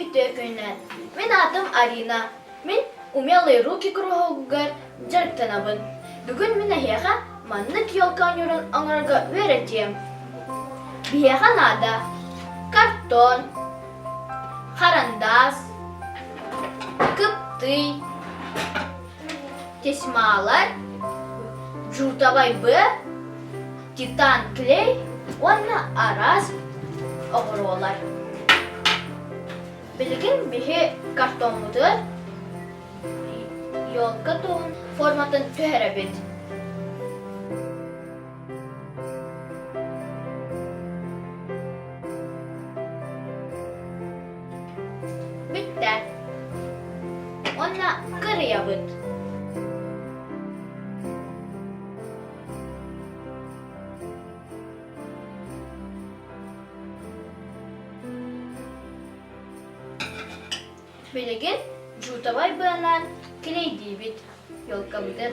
Үтүөкүнэ, мин аатым Арина. Мин Умелые руки куруһуогугар дьарыктанабын. Бүгүн мин эһиэхэ маннык елка оонньуурун оҥорорго үөрэтиэм. Биһиэхэ наада картон, харандаас, кыптый, тесьмалар жутовой б титан клей уонна араас оҕуруолар билигин биһи картоммутун елка туһун форматын түһэрэбит Бүттэ. Уонна кырыйабыт. Билигин жутовай быалаан килэйдиибит, елкабытын.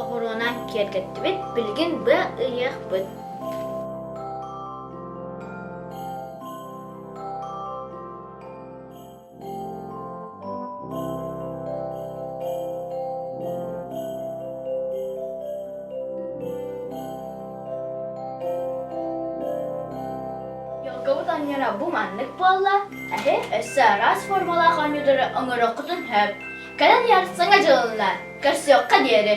оҕуруонан киэргэттибит билигин быа ыйыахпыт Елговут анньара бу маннык буолла. Эһи өссө араас формалаах оонньуутары оҥороххутун сөп. Кэлэн ярсыҥа дьылыллар. Көрсүөххэ диэри.